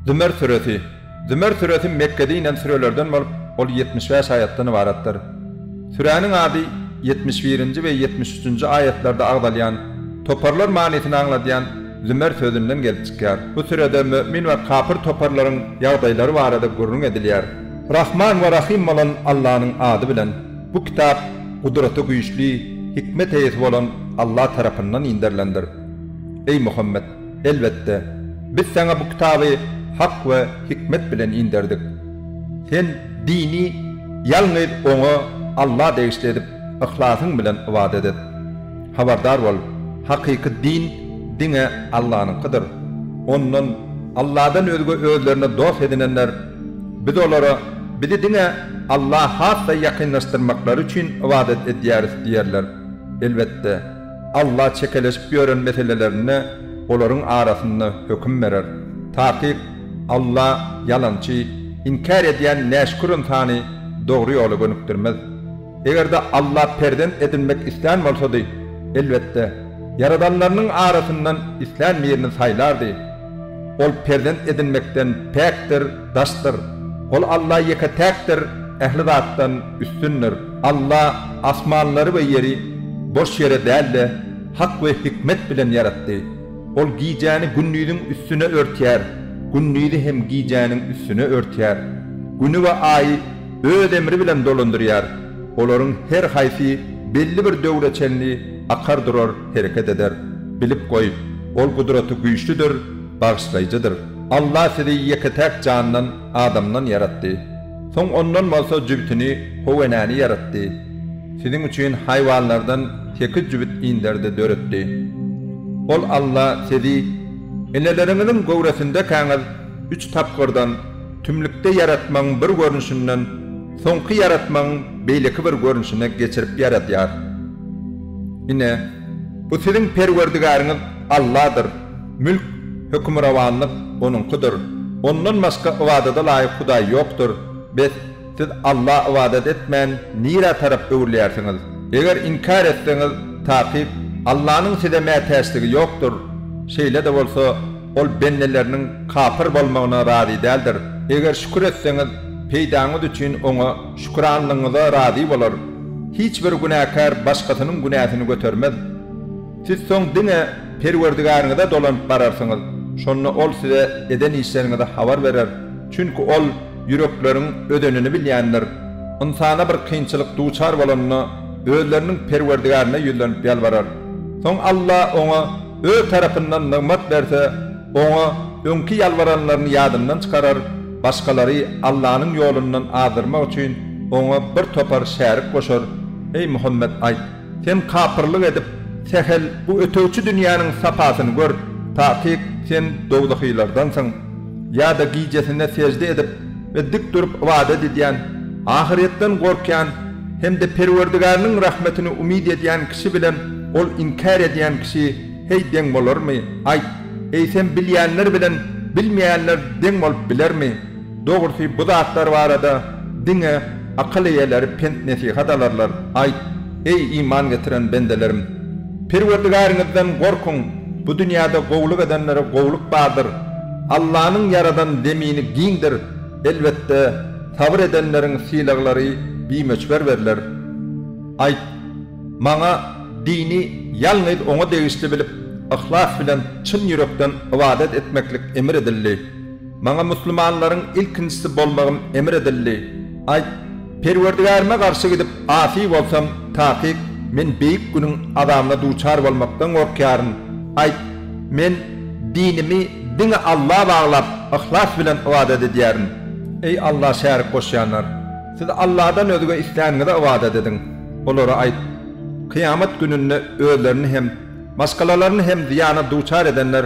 Zümer süresi. Zümer süresi Mekgede inen sürelerden bolup, ol ýetmiş bäş aýatdan ybaratdyr. Süräniň ady ýetmiş birinji we ýetmiş üçünji aýatlarda agzalýan, toparlar manysyny aňladýan Zümer sözünden gelip çykýar. Bu sürede mömin we kapyr toparlaryň ýagdaýlary barada gürrüň edilýär. Rahman we Rahym bolan Allanyň ady bilen. Bu kitap Gudraty güýçli, hikmet eýesi bolan Alla tarapyndan inderilendir. Eý Muhammet! Elbetde, Biz saňa bu kitaby hak we hikmet bilen inderdik. Sen dini ýalňyz Oňa, Alla degişli edip, yhlasyň bilen ybadat et. Habardar bol, hakyky din diňe Allanyňkydyr. Ondan, Alladan özge özlerine dost edinenler Biz olara, Bizi diňe Allaha has-da ýakynlaşdyrmaklary üçin ybadat edýäris diýerler. Elbetde, Alla çekeleşip ýören meselelerinde olaryň arasynda höküm berer. Takyk, Alla ýalançy, inkär edýän näşükür ynsany dogry ýola gönükdirmez. Eger-de Alla perzent edinmek islän bolsady, elbetde, ýaradanlarynyň arasyndan islän birini saýlardy. Ol perzent edinmekden päkdir, daşdyr. Ol Alla ýeke-täkdir, ähli zatdan üstündir. Alla asmanlary we ýeri boş ýere däl-de, hak we hikmet bilen ýaratdy. Ol gijäni gündiziň üstüne örtýär, gündizi hem gijäniň üstüne örtýär. Güni we Aýy Öz emri bilen dolandyrýar. Olaryň her haýsy belli bir döwre çenli akar durar. hereket eder. Bilip goý, Ol gudraty güýçlüdir, bagyşlaýjydyr. Allah sizi ýeke-täk jandan, adamdan, ýaratdy. Soň ondan bolsa jübütini, howenäni, ýaratdy. Siziň üçin haýwanlardan sekiz jübüt inderdi, döretdi. Ol, Allah, sizi, eneleriňiziň göwresindekäňiz, üç tapgyrdan, tümlükde ýaratmagyň bir görnüşinden soňky ýaratmagyň beýleki bir görnüşine geçirip ýaradýar. Ine, bu siziň Perwerdigäriňiz Alladyr, mülk, hökmürowanlyk Onuňkydyr. Ondan başga ybadada laýyk Hudaý ýokdur. Bes, siz Alla ybadat etmän, nirä tarap öwrülýärsiňiz? Eger inkär etseňiz, takyk, Allanyň size mätäçligi ýokdur. Şeýle-de bolsa, Ol bendeleriniň kapyr bolmagyna razy däldir. Eger şükür etseňiz, peýdaňyz üçin Oňa Şükranlygyňyza razy bolar. Hiç bir günäkär başgasynyň günäsini götermez. Siz soň diňe Perwerdigäriňize dolanyp bararsyňyz, şonda Ol size eden işleriňizi habar berer, çünki Ol ýürekleriň özenini bilýändir. Ynsana bir kynçylyk duçar bolanda, özleriniň Perwerdigärine ýüzlenip ýalbarar. Soň Alla oňa. Öz tarapyndan nygmat berse, Oňa öňki ýalbaranlaryny ýadyndan çykarar, başgalary Allanyň ýolundan azdyrmak üçin Oňa bir topar şärik goşar, Eý Muhammet, aýt! Sen kapyrlyk edip, sähel bu ötegçi dünýäniň sapasyny gör, takyk, sen dowzahylardansyň. Ýa-da gijesine sežde edip. we dik durup ybadat edýän, ahyretden gorkýan hem-de Perwerdigäriniň rahmetini umyt edýän kişi bilen ol inkär edýän kişi, heý, deň bolarmy? Aýt, eýsem, bilýänler bilen bilmeýänler deň bolup bilermi? Dogrusy, bu zatlar barada diňe akyl eýeleri pent-nesihat alarlar. Aýt, eý, iman getiren bendelerim! Perwerdigaryňyzdan gorkuň, bu dünýäde gowulyk edenlere gowulyk bardyr. Allanyň ýaradan zemini giňdir, elbetde, sabyr edenleriň sylaglary bimöçber berler. Aýt, Maňa dini ýalňyz Oňa degişli bilip, yhlas bilen çyn ýürekden ybadat etmeklik emr edildi. Maňa musulmanlaryň ilkinjisi bolmagym emr edildi. Aýt, Perwerdigärime garşy gidip asy bolsam, takyk, men Beýik Günüň azabyna duçar bolmakdan gorkýaryn. Aýt, Men dinimi diňe Alla baglap, yhlas bilen ybadat edýärin. Eý, Alla şärik goşýanlar! Siz Alladan özge isläniňize ybadat ediň. Olara aýt, Kyýamat gününde özlerini hem, maşgalalaryny hem zyýana duçar edenler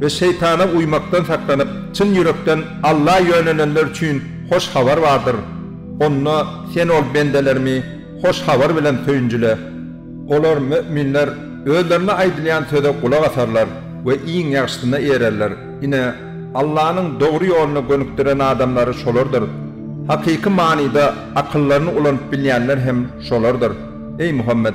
we şeýtana uýmakdan saklanyp, çyn ýürekden Alla ýönenenler üçin hoş habar bardyr. Onda Sen ol bendelerimi hoş habar bilen söýünjile. Olar, möminler, özlerine aýdylýan söze gulak asarlar we iň ýagşysyna eýererler. Ine, Allanyň dogry ýoluna gönükdiren adamlary şolardyr. Hakyky manyda akyllaryny ulanyp bilýänler hem şolardyr. Eý, Muhammet!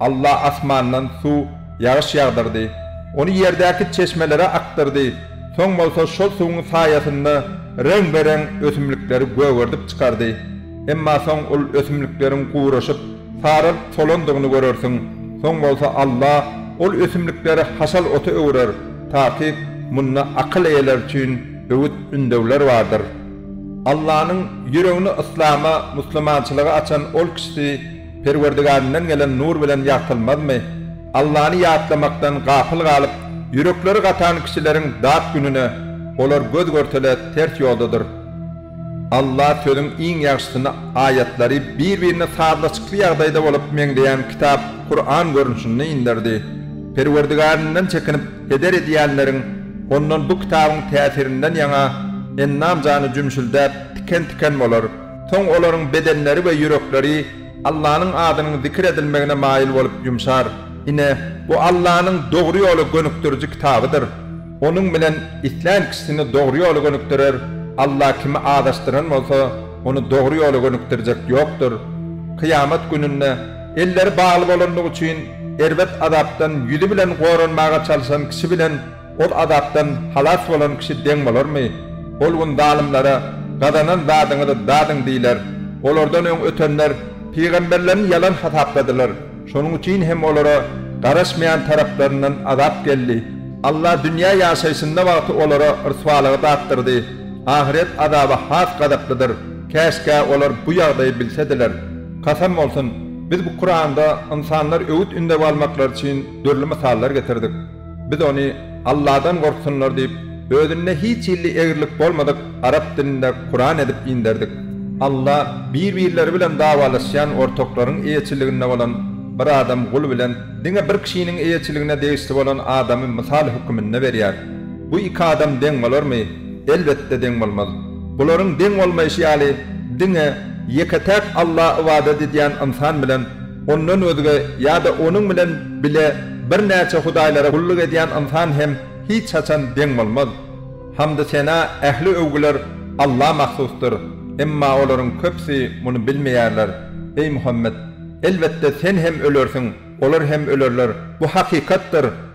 Alla asmandan suw, ýagyş ýagdyrdy. Ony ýerdäki çeşmelere akdyrdy. Soň bolsa şol suwuň saýasynda reň-be-reň ösümlikleri gögerdip çykardy. Emma soň ol ösümlikleriň guraşyp, saralyp solandygyny görersiň. Soň bolsa Alla ol ösümlikleri haşal ota öwürer. Takyk, munda akyl eýeleri üçin öwüt-ündewler bardyr. Allanyň ýüregini yslama, musulmançylyga açan ol kişisi, Perwerdigarinden gelen nur bilen ýagtylmazmy? Allany ýatlamakdan gapyl galyp, ýürekleri gatan kişileriň dat gününe olar göz-görtele ters ýoldadyr. Alla sözüň iň ýagşysyny aýatlary bir-birine sazlaşykly ýagdaýda bolup meňzeýän kitap Kuran görnüşinde inderdi. Perwerdigarinden çekinip heder edýänleriň ondan bu kitabyň täsirinden ýaňa endam-jany jümşüldäp, tiken-tiken bolar. Soň olaryň bedenleri we ýürekleri Allanyň adynyň zikir edilmegine maýyl bolup ýumşar. Ine, bu Allanyň dogry ýola gönükdiriji kitabydyr. Onuň bilen islän kişisini dogry ýola gönükdirer, Alla kimi azaşdyran bolsa, ony dogry ýola gönükdirjek ýokdur. Kyýamat gününde elleri bagly bolandygy üçin erbet azapdan ýüzi bilen goranmaga çalyşan kişi bilen Ol azapdan halas bolan kişi deň bolarmy? Ol gün zalymlara, Gazanan zadyňyzy dadyň diýler. Olardan öň ötenler pygamberlerini ýalan hasapladylar. Şonuň üçin hem olara garaşmaýan taraplaryndan azap geldi. Allah dünýä ýaşaýşynda wagty olara ryswalygy datdyrdy. Ahyret azaby has gazaplydyr. Käşgä olar bu ýagdaýy bilsediler. Kasam bolsun! Biz bu Kuranda ynsanlar öwüt-ündew almaklary üçin dürli mysallar getirdik. Biz ony Alladan gorksunlar diýip, özünde hiç hilli egrilik bolmadyk arap dilinde Kuran edip inderdik. Alla bir-birleri bilen dawalaşýan ortaklaryň eýeçiliginde bolan bir adam gul bilen diňe bir kişiniň eýeçiligine degişli bolan adamy mysal höküminde berýär. Bu iki adam deň bolarmy? Elbetde deň bolmaz. Bularyň deň bolmaýşy ýaly, diňe ýeke-täk Alla ybadat edýän ynsan bilen Ondan özge ýa-da onuň bilen bile birnäçe hudaýlara gulluk edýän ynsan hem hiç haçan deň bolmaz. Hamdy-sena, ähli öwgüler Alla mahsusdyr, emma olaryň köpüsi muny bilmeýärler. Eý Muhammet! Elbetde, sen hem ölersiň, olar hem ölerler, bu hakykatdyr.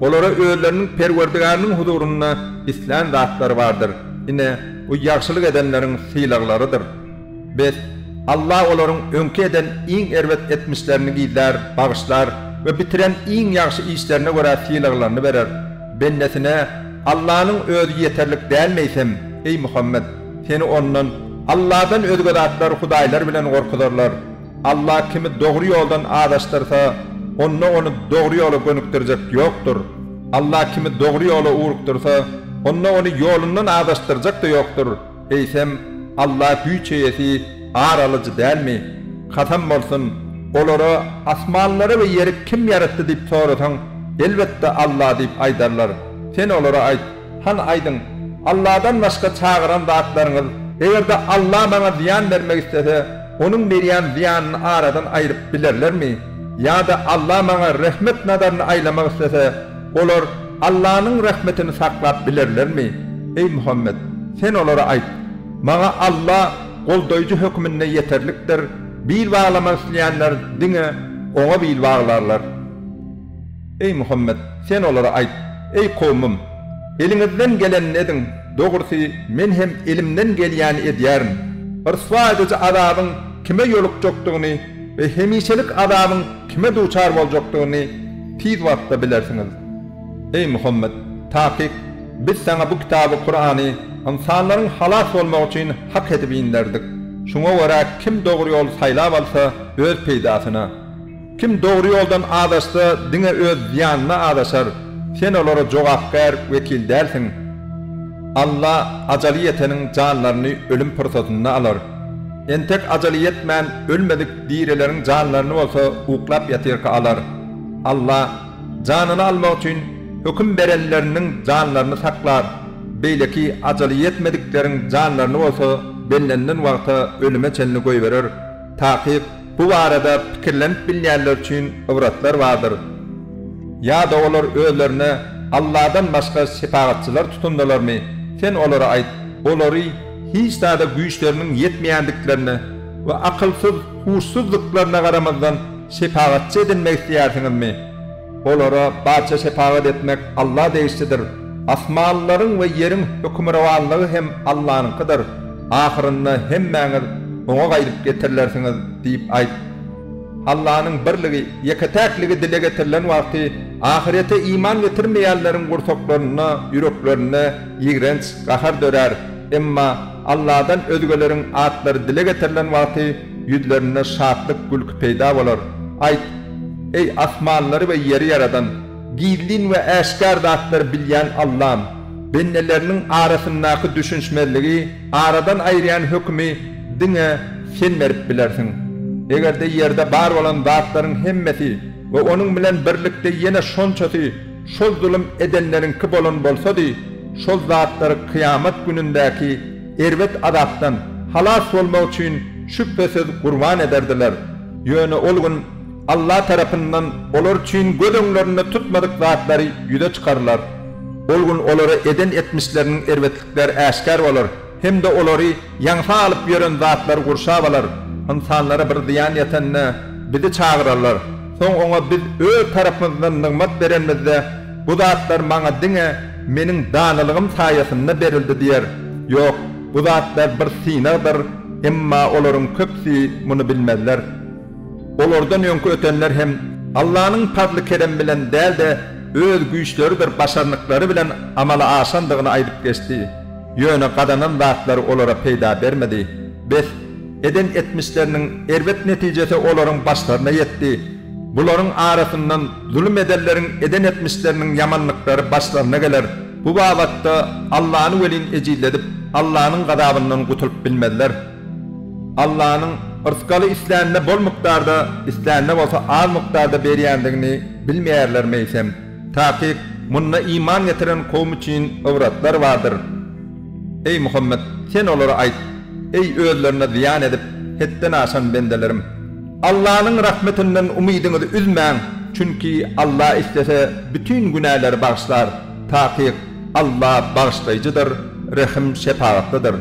Olara özleriniň Perwerdigäriniň huzurynda islän zatlary bardyr, ine, bu ýagşylyk edenleriň sylaglarydyr. Bes, Alla olaryň öňki eden iň erbet etmişlerini gizlär, bagyşlar we bitiren iň ýagşy işlerine görä sylaglaryny berer. Bendesine Allanyň özi ýeterlik däl meýsem, eý Muhammet, seni ondan, Alladan özge zatlar hudaýlar bilen gorkuzarlar. Allah kimi dogry ýoldan azaşdyrsa, onda ony dogry ýola gönükdirjek ýokdur. Allah kimi dogry ýola ugrukdyrsa, onda ony ýolundan azaşdyrjak-da ýokdur. Eýsem, Allah güýç eýesi, ar alyjy dälmi? Kasam bolsun, olara, Asmanlary we ýeri kim ýaratdy diýip sorasaň, elbetde, Allah diýip aýdarlar. Sen olara aýt, Hany aýdyň, Allahdan başga çagyran zatlaryňyz, eger-de Allah maňa zyýan bermek islese, Onuň berýän zyýanyny aradan aýryp bilerlermi? Ýa-da Alla maňa rehmet nazaryny aýlamak islese, olar Allanyň rahmetini saklap bilerlermi? Eý Muhammet! Sen olara aýt, Maňa Alla goldaýjy höküminde ýeterlikdir, bil baglamak isleýänler diňe Oňa bil baglarlar. Eý Muhammet! Sen olara aýt, Eý kowmum! Eliňizden gelenini ediň, dogrusy, men hem elimden gelýäni edýärin. Ryswa ediji azabyň kime ýolukjakdygyny we hemişelik azabyň kime duçar boljakdygyny tiz wagtda bilersiňiz. Eý Muhammet! Takyk, Biz saňa bu kitaby, Kurany, ynsanlaryň halas bolmagy üçin hak edip inderdik. Şuňa görä kim dogry ýoly saýlap alsa, öz peýdasyna. Kim dogry ýoldan azaşsa, diňe öz zyýanyna azaşar, sen olara jogapkär wekil dälsiň. Alla ajaly ýeteniň janlaryny ölüm pursatynda alar. Entek ajaly ýetmän ölmedik dirileriň janlaryny bolsa uklap ýatyrka alar. Alla janyny almak üçin höküm berenleriniň janlaryny saklar, beýleki ajaly ýetmedikleriň janlaryny bolsa bellenilen wagta ölüme çenli goýberer. Takyk. Bu barada pikirlenip bilýänler üçin ybratlar bardyr. Ýa-da olar özlerine Alladan başga şepagatçylar tutundylarmy? Sen olara aýt, olary hiç zada güýçleriniň ýetmeýändiklerine we akylsyz, huşsuzdyklaryna garamazdan şepagatçy edinmek isleýärsiňizmi? Olara barça şepagat etmek Alla degişlidir. Asmanlaryň we ýeriň hökümrowanlygy hem Allanyňkydyr. Ahyrynda hemmäňiz Oňa gaýdyp getirilersiňiz diýip aýt. Allanyň birligi, ýeke-täkligi dile getirilen wagty, ahyrete iman getirmeýänleriň gursaklarynda, ýüreklerinde ýigrenç gahar dörär. Emma Alladan özgeleriň atlary dile getirilen wagty, Ýüzlerinde şatlyk, gülki peýda bolar. Aýt, Eý, asmanlary we ýeri ýaradan, gizlin we äşgär zatlary bilýän Allam! Bendeleriniň arasyndaky düşünişmezligi aradan aýyrýan hökümi diňe Sen berip bilersiň. Eger-de ýerde bar bolan zatlaryň hemmesi we onuň bilen birlikde ýene şonçasy şol zulum edenleriňki bolan bolsady, şol zatlary kyýamat günündäki erbet azapdan halas bolmak üçin şübhesiz gurban ederdiler. Ýöne ol gün Alla tarapyndan olar üçin göz öňlerinde tutmadyk zatlary ýüze çykarylar. Ol gün olara eden etmişleriniň erbetlikleri äşgär bolar hem-de olary ýaňsa alyp ýören zatlar gurşap alar. Ynsanlara bir zyýan ýetende, Bizi çagyrarlar. Soň oňa biz Öz tarapymyzdan nygmat berenimizde, Bu zatlar maňa diňe meniň danalygym saýasynda berildi diýer. Ýok, bu zatlar bir synagdyr, emma olaryň köpüsi muny bilmezler. Olardan öňki ötenler hem Allanyň pazly-keremi bilen däl-de, öz güýçleridir başarnyklary bilen amala aşandygyny aýdyp geçdi. Ýöne gazanan zatlary olara peýda bermedi. Bes, Eden etmişleriniň erbet netijesi olaryň başlaryna ýetdi. Bularyň arasyndan zulum edenleriň eden etmişleriniň ýamanlyklary başlaryna geler. Bu babatda Allany welin ejizledip, Allanyň gazabyndan gutulyp bilmezler. Allanyň rysgaly islänine bol mukdarda, islänine bolsa az mukdarda berýändigini bilmeýärler meýsem? Takyk, munda iman getiren kowum üçin ybrtlar bardyr. Eý, Muhammet, sen olara aýt, Eý, özlerine zyýan edip, hetden aşan bendelerim! Allanyň rahmetinden umydyňyzy üzmäň, çünki Alla islese, bütin günäleri bagyşlar. Takyk. Alla Bagyşlaýjydyr, Rehim-şepagatlydyr.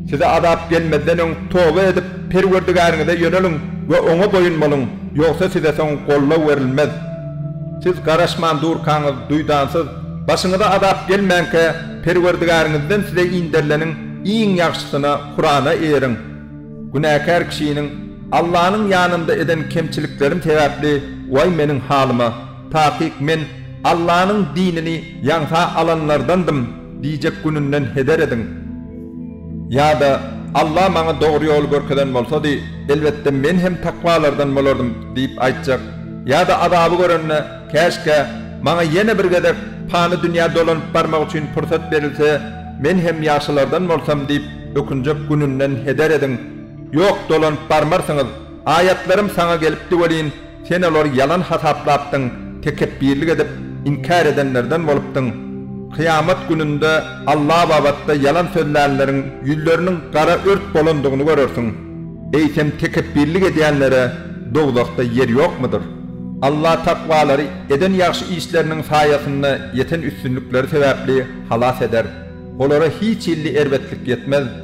Size azap gelmezden öň toba edip, Perwerdigäriňize ýöneliň we Oňa boýun boluň, ýogsa size soň goldaw berilmez. Siz garaşman durkaňyz, duýdansyz, başyňyza azap gelmänkä, Perwerdigäriňizden size inderileniň iň ýagşysyna, Kurana, eýeriň. Günäkär kişiniň Allanyň ýanynda eden kemçiliklerim sebäpli, Waý meniň halyma! Takyk men Allanyň dinini ýaňsa alanlardandym diýjek gününden heder ediň. Ýa-da, Alla maňa dogry ýoly görkezen bolsady, elbetde men hem takwalardan bolardym diýip aýtjak. Ýa-da azaby görende, Käşgä, maňa ýene bir gezek pany dünýä dolanyp barmak üçin pursat berilse, men hem ýagşylardan bolsam diýip ökünjek gününden heder ediň. Ýok, dolanyp barmarsyňyz. Aýatlarym saňa gelipdi welin, sen olary ýalan hasaplapdyň, tekepbirlik edip, inkär edenlerden bolupdyň. Kyýamat gününde Alla babatda ýalan sözlänleriň ýüzleriniň gara ört bolandygyny görersiň. Eýsem, tekepbirlik edýänlere dowzahda ýer ýokmudyr? Alla takwalary eden ýagşy işleriniň saýasynda ýeten üstünlikleri sebäpli halas eder. Olara hiç hilli erbetlik ýetmez.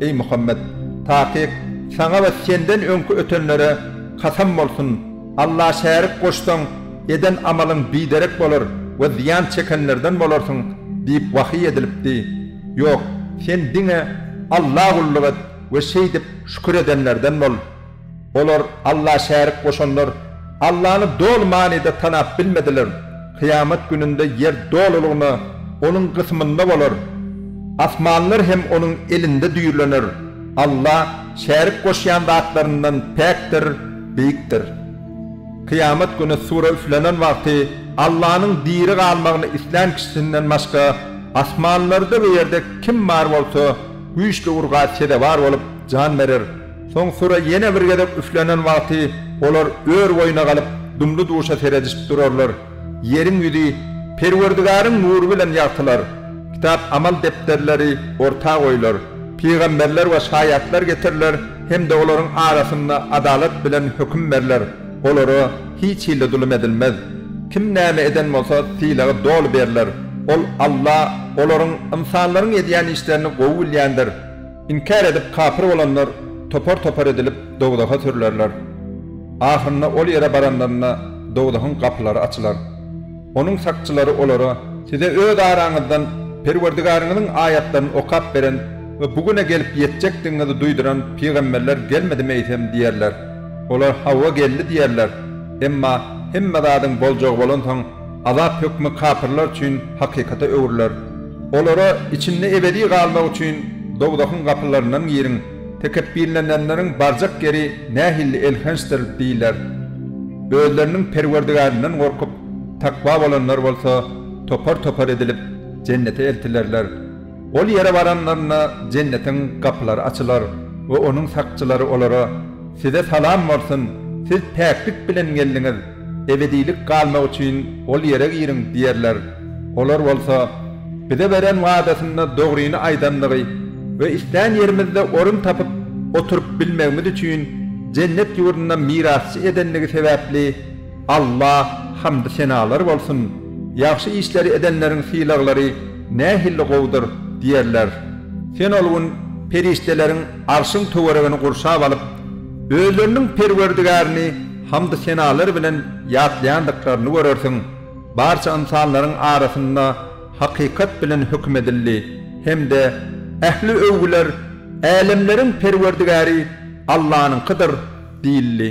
Eý Muhammet! Takyk, saňa we senden öňki ötenlere kasam bolsun, Alla şärik goşsaň, eden amalyň biderek bolar we zyýan çekenlerden bolarsyň diýip wahyý edilipdi. Ýok, sen diňe Alla gulluk et we şeýdip şükür edenlerden bol. Olar Alla şärik goşanlar, Allany doly manyda tanap bilmediler. Kyýamat gününde ýer dolulygyna Onuň gysymynda bolar. Asmanlar hem Onuň elinde düýrlener. Alla şärik goşýan zatlaryndan päkdir, beýikdir. Kyýamat güni sura üflenen wagty Allanyň diri galmagyny islän kişisinden başga asmanlarda we ýerde kim bar bolsa, güýçli urga sezewar bolup jan berer. Soň süre ýene bir gezek üflenen wagty olar ör boýuna galyp, dumly-duşa seredişip durarlar. Ýeriň ýüzi Perwerdigaryň nury bilen ýagtylar. Kitap amal depderleri orta goýlar. Pygamberler we şaýatlar getiriler hem-de olaryň arasynda adalat bilen höküm berler, olara hiç hilli zulum edilmez. Kim näme eden bolsa, sylagy doly berler. Ol, Alla, olaryň, ynsanlaryň edýän işlerini gowy bilýändir. Inkär edip kapyr bolanlar topar-topar edilip dowzaha sürülerler. Ahyrynda ol ýere baranlarynda dowzahyň gapylary açylar. Onuň sakçylary olara, Size öz araňyzdan Perwerdigaryňyzyň aýatlaryny okap beren we bu güne gelip ýetjekdigiňizi duýduran pygamberler gelmedimi eýsem? diýerler. Olar, Hawa geldi diýerler. Emma hemme zadyň boljagy bolansoň, Azap hökmi kapyrlar üçin hakykata öwrüler. Olara, Içinde ebedi galmak üçin dowzahyň gapylaryndan giriň, tekepbirleneňleriň barjak ýeri nähilli elhençdir diýiler. Özleriniň Perwerdigärinden gorkup, takwa bolanlar bolsa topar-topar edilip, jennete eltilerler. Ol ýere baranlarynda jennetiň gapylary açylar we onuň sakçylary olara, Size salam bolsun! Siz päklik bilen geldiňiz! Ebedilik galmak üçin ol ýere giriň diýerler. Olar bolsa, Bize beren wadasynda dogryny aýdandygy we islän ýerimizde orun tapyp, oturyp bilmegimiz üçin Jennet ýurdunda mirasçy edendigi sebäpli Allah hamdy-senalar bolsun! Ýagşy işleri edenleriň sylaglary nähilli gowudyr! diýerler. Sen ol gün perişdeleriň Arşyň töweregini gurşap alyp, özleriniň Perwerdigärini hamdy-senalar bilen ýatlaýandyklaryny görersiň, barça ynsanlaryň arasynda hakykat bilen höküm edildi hem-de ähli öwgüler Älemleriň Perwerdigäri Allanyňkydyr diýildi.